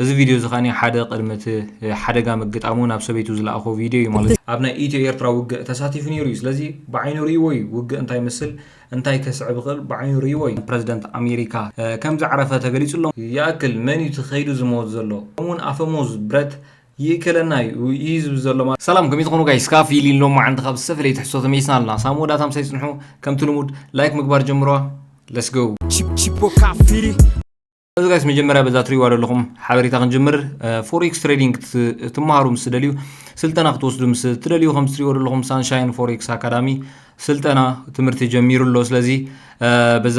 እዚ ቪድዮ እዚ ከኣ ሓደ ቅድሚ እቲ ሓደጋ ምግጣሙ ናብ ሰበይቱ ዝለኣኾ ቪድዮ እዩ ማለት እዩ። ኣብ ናይ ኢትዮ ኤርትራ ውግእ ተሳቲፉ ነይሩ እዩ ስለዚ ብዓይኑ ርእይዎ እዩ ውግእ እንታይ ይመስል እንታይ ከስዕብ ይኽእል ብዓይኑ ርእይዎ እዩ። ፕረዚደንት ኣሜሪካ ከም ዝዓረፈ ተገሊጹ ኣሎ። ይኣክል መን እዩ እቲ ከይዱ ዝመውት ዘሎ ከምኡ ውን ኣፈሙዝ ብረት ይእከለና እዩ እዩ ዝብል ዘሎ ማለት እዩ። ሰላም ከመይ ትኾኑ ጋይስ ካብ ፊሊን ሎማዓንቲ ካብ ዝተፈለየ ትሕዝቶ ተመሊስና ኣለና ሳብ መወዳእታ ምሳይ ጽንሑ ከምቲ ልሙድ ላይክ ምግባር ጀምርዋ let's go። Chip Chip Boca Firi እዚ ጋይስ መጀመርያ በዛ ትሪእዋ ዘለኹም ሓበሬታ ክንጅምር ፎሬክስ ትሬዲንግ ትመሃሩ ምስ ትደልዩ ስልጠና ክትወስዱ ምስ ትደልዩ ከም ትሪእዎ ዘለኹም ሳንሻይን ፎሬክስ ኣካዳሚ ስልጠና ትምህርቲ ጀሚሩ ኣሎ ስለዚ በዛ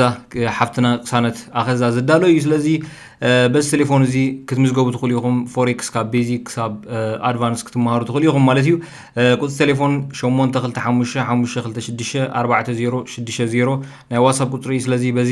ሓፍትና ቅሳነት ኣኸዛ ዝዳሎ እዩ ስለዚ በዚ ቴሌፎን እዚ ክትምዝገቡ ትኽእሉ ኢኹም ፎሬክስ ካብ ቤዚክ ክሳብ ኣድቫንስ ክትመሃሩ ትኽእሉ ኢኹም ማለት እዩ ቁፅሪ ቴሌፎን 825 526 ናይ ዋትሳፕ ቁፅሪ እዩ ስለዚ በዚ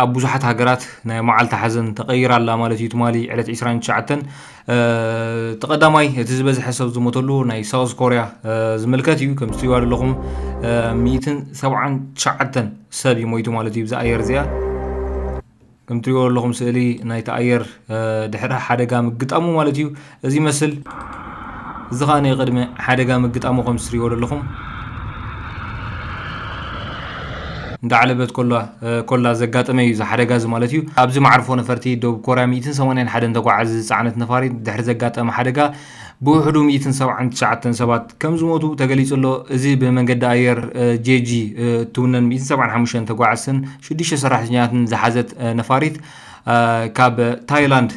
ኣብ ብዙሓት ሃገራት ናይ መዓልቲ ሓዘን ተቐይራ ኣላ ማለት እዩ። ትማሊ ዕለት ዕስራን ትሽዓተን እቲ ቀዳማይ እቲ ዝበዝሐ ሰብ ዝሞተሉ ናይ ሳውዝ ኮርያ ዝምልከት እዩ። ከም ዝትሪእዋ ዘለኹም ሚእትን ሰብዓን ትሽዓተን ሰብ እዩ ሞይቱ ማለት እዩ ብዛ ኣየር እዚኣ። ከም ትሪእዎ ዘለኹም ስእሊ ናይቲ ኣየር ድሕሪ ሓደጋ ምግጣሙ ማለት እዩ። እዚ ይመስል እዚ ከኣ ንቅድሚ ሓደጋ ምግጣሙ ከም ትስርዎ ደለኹም እንዳዓለበት ኮላ ኮላ ዘጋጠመ እዩ እዚ ሓደጋ እዚ ማለት እዩ። ኣብዚ መዓርፎ ነፈርቲ ደቡብ ኮርያ ሚእትን ሰማንያን ሓደን ተጓዓዚ ዝጸዓነት ነፋሪት ድሕሪ ዘጋጠመ ሓደጋ ብውሕዱ ሚእትን ሰብዓን ትሽዓተን ሰባት ከም ዝሞቱ ተገሊጹ ኣሎ። እዚ ብመንገዲ ኣየር ጄጂ እትውነን ሚእትን ሰብዓን ሓሙሽተን ተጓዓዝትን ሽዱሽተ ሰራሕተኛታትን ዝሓዘት ነፋሪት ካብ ታይላንድ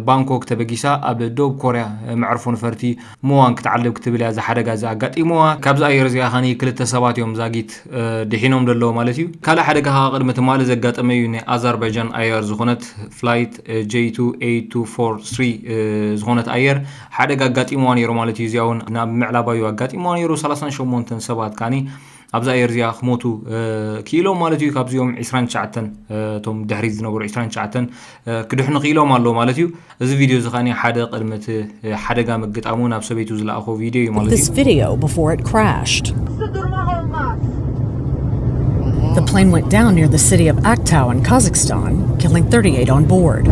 ባንኮክ ተበጊሳ ኣብ ደቡብ ኮርያ መዕርፎ ነፈርቲ ሙዋን ክትዓልብ ክትብል እያ እዚ ሓደጋ እዚ ኣጋጢምዋ። ካብዛ ኣየር እዚኣ ኸኒ ክልተ ሰባት እዮም ዛጊት ድሒኖም ዘለዉ ማለት እዩ። ካልእ ሓደጋ ከኣ ቅድሚ ትማሊ ዘጋጠመ እዩ። ናይ ኣዛርባይጃን ኣየር ዝኾነት ፍላይት ጀይ ቱ ኤይት ቱ ፎር ስሪ ዝኾነት ኣየር ሓደጋ ኣጋጢምዋ ነይሩ ማለት እዩ። እዚኣ እውን ናብ ምዕራባዊ ኣጋጢምዋ ነይሩ። ሰላሳን ሸሞንተን ሰባት ከኣኒ ኣብዛ ኣየር እዚኣ ክሞቱ ክኢሎም ማለት እዩ ካብዚኦም 29 እቶም ድሕሪት ዝነበሩ 29 ክድሕኑ ክኢሎም ኣሎ ማለት እዩ እዚ ቪድዮ እዚ ከዓኒ ሓደ ቅድሚ እቲ ሓደጋ ምግጣሙ ናብ ሰበይቱ ዝለኣኾ ቪድዮ እዩ ማለት እዩ The plane went down near the city of Aktau in Kazakhstan, killing 38 on board.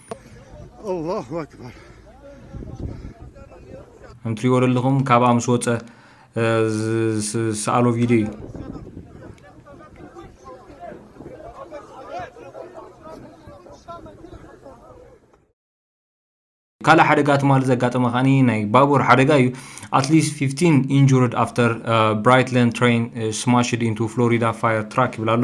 ከም ትሪእዎ ዘለኹም ካብኣ ምስ ወፀ ዝሰኣሎ ቪድዮ እዩ ካልእ ሓደጋ ትማሊ ዘጋጠመ ከዓኒ ናይ ባቡር ሓደጋ እዩ ኣትሊስት 15 ኢንጁርድ ኣፍተር ብራይትለን ትሬን ስማሽድ ኢንቱ ፍሎሪዳ ፋየር ትራክ ይብል ኣሎ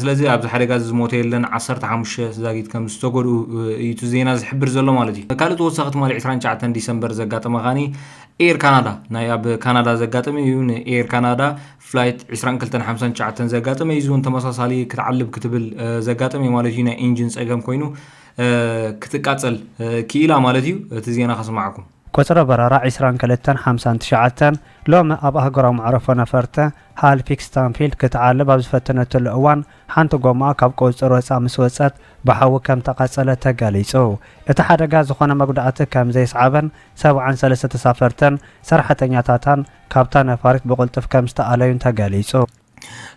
ስለዚ ኣብዚ ሓደጋ እዚ ዝሞተ የለን፣ ዓሰርተ ሓሙሽተ ዛጊት ከም ዝተጎድኡ እዩ እቲ ዜና ዝሕብር ዘሎ ማለት እዩ። ካልእ ተወሳኺ ትማሊ ዕስራን ትሽዓተን ዲሰምበር ዘጋጠመ ከኣ ኤር ካናዳ ናይ ኣብ ካናዳ ዘጋጠመ እዩ። ንኤር ካናዳ ፍላይት ዕስራን ክልተን ሓምሳን ትሽዓተን ዘጋጠመ እዩ። እዚ እውን ተመሳሳሊ ክትዓልብ ክትብል ዘጋጠመ እዩ ማለት እዩ። ናይ ኢንጂን ጸገም ኮይኑ ክትቃጸል ክኢላ ማለት እዩ። እቲ ዜና ከስማዓኩም። ቁጽሪ በረራ ዕስራን ክልተን ሓምሳን ትሽዓተን ሎሚ ኣብ ኣህጉራዊ መዕረፎ ነፈርቲ ሃልፊክ ስታንፊልድ ክትዓልብ ኣብ ዝፈተነትሉ እዋን ሓንቲ ጎማኣ ካብ ቁጽጽር ወጻኢ ምስ ወጸት ብሓዊ ከም ተቓጸለት ተገሊጹ። እቲ ሓደጋ ዝኾነ መጉዳእቲ ከም ዘየስዓበን ሰብዓን ሰለስተ ተሳፈርትን ሰራሕተኛታታን ካብታ ነፋሪት ብቕልጡፍ ከም ዝተኣለዩን ተገሊጹ።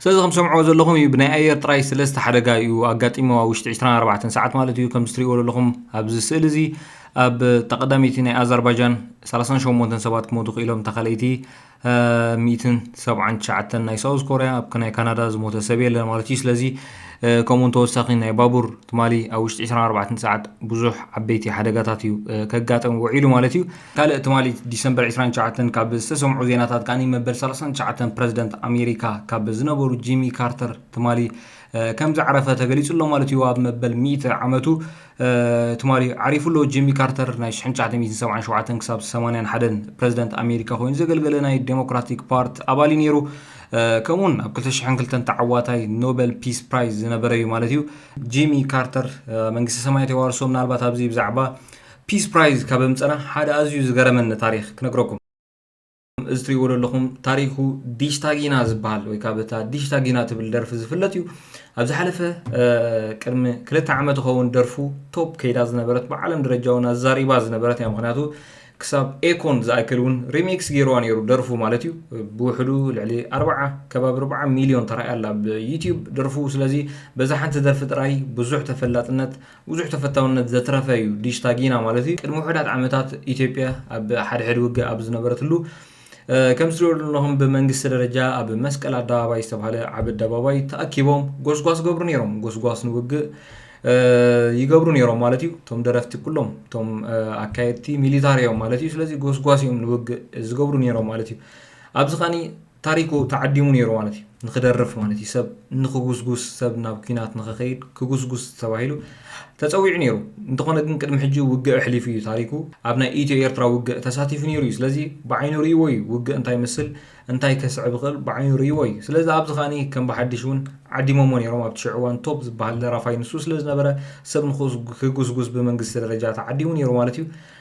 ስለዚ ከም ሰምዕዎ ዘለኹም እዩ ብናይ ኣየር ጥራይ ስለስተ ሓደጋ እዩ ኣጋጢሞ ኣብ ውሽጢ 24 ሰዓት ማለት እዩ ከምዚ ትሪእዎ ዘለኹም ኣብዚ ስእሊ እዚ ኣብ ተቀዳሚቲ ናይ ኣዘርባጃን 38 ሰባት ክሞቱ ክኢሎም ተካለይቲ 179 ናይ ሳውዝ ኮርያ ኣብ ናይ ካናዳ ዝሞተ ሰብ የለን ማለት እዩ ስለዚ ከምኡውን ተወሳኺ ናይ ባቡር ትማሊ ኣብ ውሽጢ 24 ሰዓት ብዙሕ ዓበይቲ ሓደጋታት እዩ ከጋጠም ውዒሉ ማለት እዩ ካልእ ትማሊ ዲሰምበር ዕስራን ትሽዓተን ካብ ዝተሰምዑ ዜናታት ከኣ መበል ሰላሳን ትሽዓተን ፕረዚደንት ኣሜሪካ ካብ ዝነበሩ ጂሚ ካርተር ትማሊ ከም ዝዓረፈ ተገሊጹ ኣሎ ማለት እዩ ኣብ መበል ሚእቲ ዓመቱ ትማሊ ዓሪፉ ኣሎ ጂሚ ካርተር ናይ 1977 ክሳብ 81 ፕረዚደንት ኣሜሪካ ኮይኑ ዘገልገለ ናይ ዴሞክራቲክ ፓርቲ ኣባል እዩ ነይሩ ከምኡውን ኣብ 2002 ተዓዋታይ ኖበል ፒስ ፕራይዝ ዝነበረ እዩ ማለት እዩ ጂሚ ካርተር መንግስቲ ሰማያት የዋርሶ ምናልባት ኣብዚ ብዛዕባ ፒስ ፕራይዝ ካብ ኣምጸና ሓደ ኣዝዩ ዝገረመኒ ታሪኽ ክነግረኩም። እዚ ትሪእዎ ዘለኹም ታሪኩ ዲሽታጊና ዝበሃል ወይ ካብ እታ ዲሽታጊና ትብል ደርፊ ዝፍለጥ እዩ ኣብ ዝሓለፈ ቅድሚ ክልተ ዓመት ኸውን ደርፉ ቶፕ ከይዳ ዝነበረት ብዓለም ደረጃ እውን ኣዛሪባ ዝነበረት እያ ምክንያቱ ክሳብ ኤኮን ዝኣክል እውን ሪሚክስ ገይርዋ ነይሩ ደርፉ ማለት እዩ ብውሕዱ ልዕሊ ኣርባዓ ከባቢ ኣርባዓ ሚሊዮን ተራእያ ኣላ ኣብ ዩትብ ደርፉ ስለዚ በዛ ሓንቲ ደርፊ ጥራይ ብዙሕ ተፈላጥነት ብዙሕ ተፈታውነት ዘትረፈ እዩ ዲሽታ ጊና ማለት እዩ። ቅድሚ ውሑዳት ዓመታት ኢትዮጵያ ኣብ ሓድሕድ ውግእ ኣብ ዝነበረትሉ ከም ትሪኦ ዘለኹም ብመንግስቲ ደረጃ ኣብ መስቀል ኣደባባይ ዝተባሃለ ዓብ ኣደባባይ ተኣኪቦም ጎስጓስ ገብሩ ነይሮም። ጎስጓስ ንውግእ ይገብሩ ነይሮም ማለት እዩ። እቶም ደረፍቲ ኩሎም እቶም ኣካየድቲ ሚሊታሪ እዮም ማለት እዩ። ስለዚ ጎስጓስ እዮም ንውግእ ዝገብሩ ነይሮም ማለት እዩ። ኣብዚ ኸኒ ታሪኩ ተዓዲሙ ነይሩ ማለት እዩ ንክደርፍ ማለት እዩ ሰብ ንክጉስጉስ ሰብ ናብ ኩናት ንክከይድ ክጉስጉስ ተባሂሉ ተጸዊዑ ነይሩ እንተኮነ ግን ቅድሚ ሕጂ ውግእ ኣሕሊፉ እዩ ታሪኩ ኣብ ናይ ኢትዮ ኤርትራ ውግእ ተሳቲፉ ነይሩ እዩ ስለዚ ብዓይኑ ርእይዎ እዩ ውግእ እንታይ ይመስል እንታይ ከስዕብ ይክእል ብዓይኑ ርእይዎ እዩ ስለዚ ኣብዚ ከኣ ከም ብሓድሽ ውን ዓዲሞሞ ነይሮም ኣብቲ ሽዑ እዋን ቶፕ ዝበሃል ደራፋይ ንሱ ስለዝነበረ ሰብ ንክጉስጉስ ብመንግስቲ ደረጃ ተዓዲሙ ነይሩ ማለት እዩ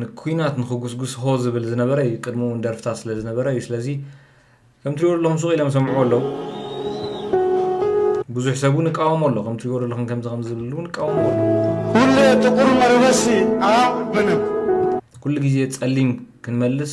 ንኩናት ንክጉስጉስ ሆ ዝብል ዝነበረ እዩ ቅድሙ ውን ደርፍታት ስለ ዝነበረ እዩ ስለዚ ከም ትሪእዎ ዘለኹም ሱቕ ኢሎም ይሰምዕዎ ኣለው ብዙሕ ሰብ ውን ይቃወሞ ኣሎ ከም ትሪእዎ ዘለኹም ከምዚ ከምዚ ዝብል ውን ይቃወሞ ኣሎ ሁሌ ጥቁር መረበሲ ኣብ ምንም ኩሉ ግዜ ጸሊም ክንመልስ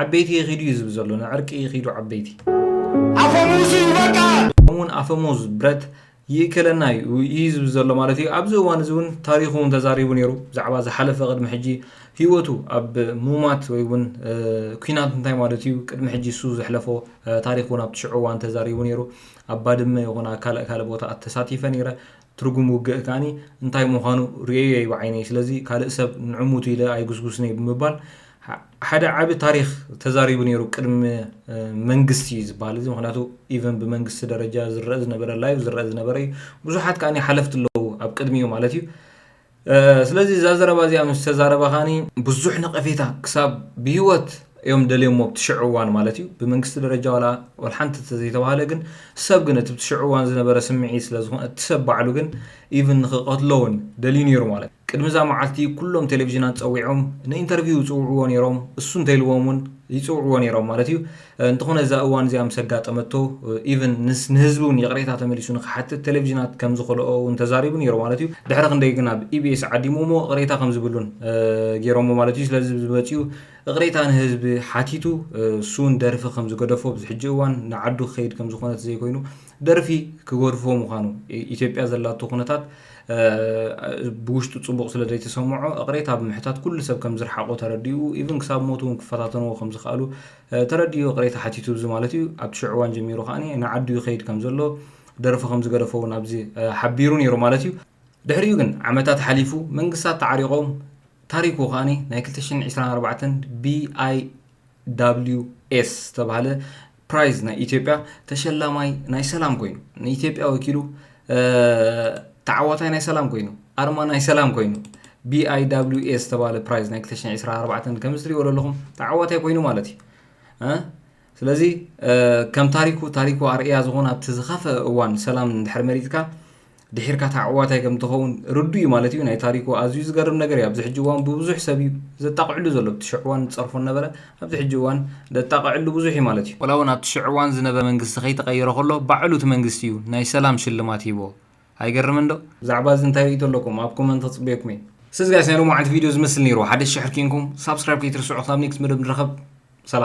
ዓበይቲ ይኺዱ እዩ ዝብል ዘሎ ንዕርቂ ይኺዱ ዓበይቲ። ኣፈሙዙ ይበቃ! ከምኡውን ኣፈሙዝ ብረት ይእከለና እዩ እዩ ዝብል ዘሎ ማለት እዩ። ኣብዚ እዋን እዚ እውን ታሪኹ እውን ተዛሪቡ ነይሩ ብዛዕባ ዝሓለፈ ቅድሚ ሕጂ ህይወቱ ኣብ ሙማት ወይ እውን ኩናት እንታይ ማለት እዩ ቅድሚ ሕጂ እሱ ዘሕለፎ ታሪክ እውን ኣብቲ ሽዑ እዋን ተዛሪቡ ነይሩ። ኣብ ባድመ ይኹን ኣብ ካልእ ካልእ ቦታኣት ተሳቲፈ ነይረ ትርጉም ውግእ ከኣ እንታይ ምዃኑ ርእየዮ'የ ብዓይነይ፣ ስለዚ ካልእ ሰብ ንዕሙቱ ኢለ ኣይጉስጉስን'የ ብምባል ሓደ ዓቢ ታሪኽ ተዛሪቡ ነይሩ ቅድሚ መንግስቲ'ዩ ዝብሃል እዚ ምኽንያቱ ኢቨን ብመንግስቲ ደረጃ ዝረኣ ዝነበረ ላይቭ ዝረኣ ዝነበረ'ዩ ብዙሓት ከኣ ሓለፍቲ ኣለዉ ኣብ ቅድሚኡ ማለት'ዩ ስለዚ እዛ ዘረባ እዚኣ ምስ ተዛረበኻኒ ብዙሕ ነቐፌታ ክሳብ ብሂወት እዮም ደልዮሞ ኣብቲ ሽዑ እዋን ማለት እዩ ብመንግስቲ ደረጃ ዋላ ዋላ ሓንቲ ተዘይተባህለ ግን ሰብ ግን እቲ ሽዑ እዋን ዝነበረ ስምዒት ስለ ዝኾነ እቲ ሰብ ባዕሉ ግን ኢቭን ንክቐትሎ እውን ደልዩ ነይሩ ማለት ቅድሚ እዛ መዓልቲ ኩሎም ቴሌቭዥናት ፀዊዖም ንኢንተርቪው ይፅውዕዎ ነይሮም እሱ እንተይልዎም እውን ይፅውዕዎ ነይሮም ማለት እዩ እንተኾነ እዛ እዋን እዚኣ ምስ ኣጋጠመቶ ኢቭን ንህዝቢ እውን ይቕሬታ ተመሊሱ ንክሓትት ቴሌቭዥናት ከም ዝኸልኦ እውን ተዛሪቡ ነይሩ ማለት እዩ። ድሕሪ ክንደይ ግን ኣብ ኢቢኤስ ዓዲሞምዎ እቕሬታ ከም ዝብሉን ገይሮምዎ ማለት እዩ። ስለዚ እዚ መፂኡ እቕሬታ ንህዝቢ ሓቲቱ እሱ እውን ደርፊ ከም ዝገደፎ ኣብዚ ሕጂ እዋን ንዓዱ ክኸይድ ከም ዝኾነት ዘይኮይኑ ደርፊ ክገድፎ ምዃኑ ኢትዮጵያ ዘላቶ ኩነታት ብውሽጡ ፅቡቕ ስለ ዘይተሰምዖ እቕሬታ ብምሕታት ኩሉ ሰብ ከም ዝርሓቖ ተረዲኡ ኢቭን ክሳብ ሞት እውን ክፈታተንዎ ከም ዝኸኣሉ ተረዲኡ ይቕሬታ ሓቲቱ እዚ ማለት እዩ። ኣብቲ ሽዑ እዋን ጀሚሩ ከኣ ንዓዱ ይኸይድ ከም ዘሎ፣ ደርፊ ከም ዝገደፎ እውን ኣብዚ ሓቢሩ ነይሩ ማለት እዩ። ድሕሪኡ ግን ዓመታት ሓሊፉ፣ መንግስታት ተዓሪቖም፣ ታሪኩ ከኣ ናይ ክልተ ሽሕን ዕስራን ኣርባዕተን BIWS ዝተባህለ ፕራይዝ ናይ ኢትዮጵያ ተሸላማይ ናይ ሰላም ኮይኑ ንኢትዮጵያ ወኪሉ ተዓዋታይ ናይ ሰላም ኮይኑ ኣርማ ናይ ሰላም ኮይኑ BIWA ዝተባለ ፕራይዝ ናይ 224 ከምዚ ትሪእዎ ዘለኹም ተዓዋታይ ኮይኑ ማለት እዩ ስለዚ ከም ታሪኩ ታሪኩ ኣርእያ ዝኾነ ኣብቲ ዝኸፈ እዋን ሰላም ድሕሪ መሪትካ ድሒርካ ተዓዋታይ ከም ትኸውን ርዱ እዩ ማለት እዩ ናይ ታሪኩ ኣዝዩ ዝገርም ነገር እዩ ኣብዚ ሕጂ እዋን ብብዙሕ ሰብ እዩ ዘጣቕዕሉ ዘሎ ብትሽዕዋን ፀርፎን ነበረ ኣብዚ ሕጂ እዋን ደጣቕዕሉ ብዙሕ እዩ ማለት እዩ። ዋላውን ኣብቲ ሽዑ እዋን ዝነበ መንግስቲ ከይተቐየረ ከሎ ባዕሉ እቲ መንግስቲ እዩ ናይ ሰላም ሽልማት ሂብዎ። ኣይገርምን ዶ? ብዛዕባ እዚ እንታይ ርእይቶ ኣለኩም? ኣብ ኮመንት ክጽበየኩም እየ። ስዝ ጋይስ ናይ ሎሚ መዓልቲ ቪድዮ እዚ ዝመስል ኔሩ ሓደሽቲ ሕርኪ እንኩም ሳብስክራይብ ከይትርስዑ ክሳብ ኔክስት መደብ ንራኸብ ሰላም።